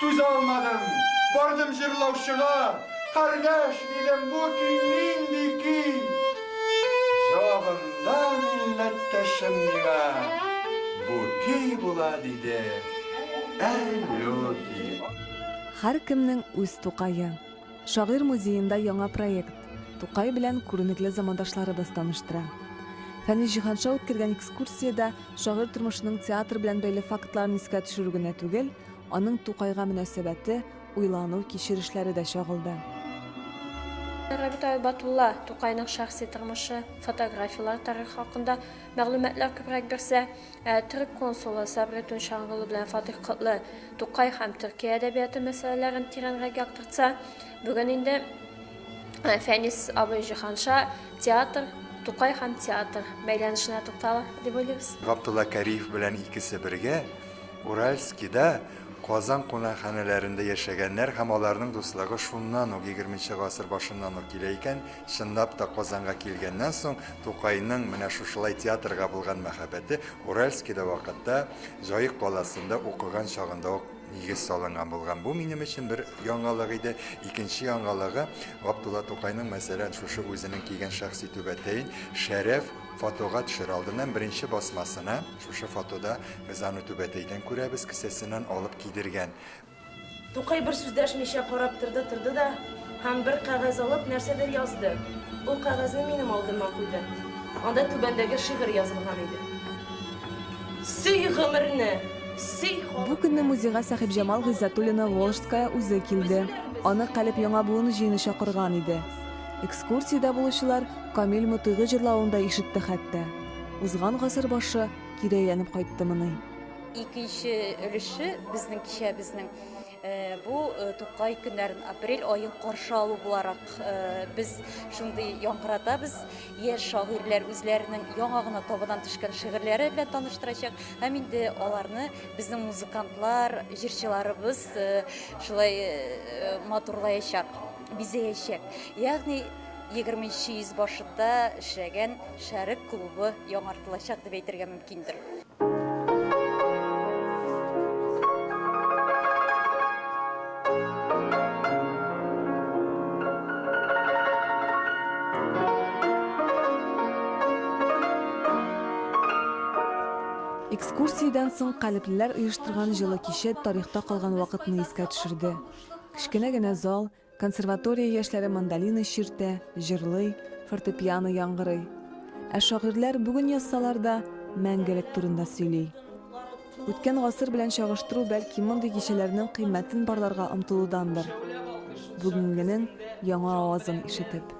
Түзә алмадым, бардым җырлаучыга, Кардәш, дидем, бу көй нинди көй? Җавабында милләттәшем миңа, Бу көй була, диде, Әллүки. Һәркемнең үз Тукае. Шагыйрь музеенда яңа проект Тукай белән күренекле замандашларыбыз таныштыра. Фәнис Җиһанша үткәргән экскурсиядә шагыйрь тормышының театр белән бәйле фактларын искә төшерү генә түгел, Аның Тукайга мөнәсәбәте, уйлану, кичерешләре дә чагылды. Рабит Айбатулла Тукайның шәхси тормышы, фотографияләр, тарихы хакында мәгълүматлар күбрәк бирсә, ә төрек консулы Сабри Тунчангулы белән Фатих Котлы Тукай һәм Төркия әдәбияты мәсьәләләрен тирәнрәк яктыртса, бүген инде Фәнис абый Җиһанша театр, Тукай һәм театр бәйләнешенә тукталыр дип уйлыйбыз. Габдулла Кариев белән икесе бергә Уральскида Казан кунакханәләрендә яшәгәннәр һәм аларның дуслыгы шуннан ук, егерменче гасыр башыннан ук килә икән, чынлап та Казанга килгәннән соң Тукайның менә шушылай театрга булган мәхәббәте Уральскида вакытта, Җаек каласында укыган чагында ук нигез салынган булган. Бу минем өчен бер яңалык иде. Икенче яңалыгы, Габдулла Тукайның, мәсәлән, шушы үзенең кигән шәхси түбәтәен Шәрәф фотога төшер алдыннан беренче басмасына, Шушы фотода без аны түбәтәйдән күрәбез, кесәсеннән алып кидергән. Тукай бер сүз дәшмичә карап торды, торды да һәм бер кәгазь алып нәрсәдер язды. Ул кәгазьне минем алдыма куйды. Анда түбәндәге шигырь язылган иде. Сөй гомерне, сөй халыкны. Бу көнне музейга Сәхибҗамал Гыйззәтуллина Волжская үзе килде. Аны Калеб Яңа буын җыены чакырган иде. Экскурсиядә булучылар Камил Мотыйгы җырлавын да ишетте хәтта. Узган гасыр башы кире әйләнеп кайттымыни? Икенче өлеше безнең кичәбезнең Э, бу э, тукай көннәрен апрель айын каршы алу буларак э, без шундый яңгыратабыз яшь шагыйрьләр үзләренең яңа гына табадан төшкән шигырьләре белән таныштырачак һәм инде аларны безнең музыкантлар җырчыларыбыз шулай матурлаячак бизәячәк ягъни 20 нче йөзбашында эшләгән Шәрык клубы яңартылачак дип әйтергә мөмкиндер. Экскурсиядән соң калеблеләр оештырган җылы кичә тарихта калган вакытны искә төшерде. Кечкенә генә зал, Консерватория яшьләре мандолина чиртә, җырлый, фортепиано яңгырый. Ә шагыйрьләр бүген язсалар да, мәңгелек турында сөйли. Үткән гасыр белән чагыштыру бәлки мондый кичәләрнең кыйммәтен барларга омтылудандыр. Бүгенгенең яңа авазын ишетеп.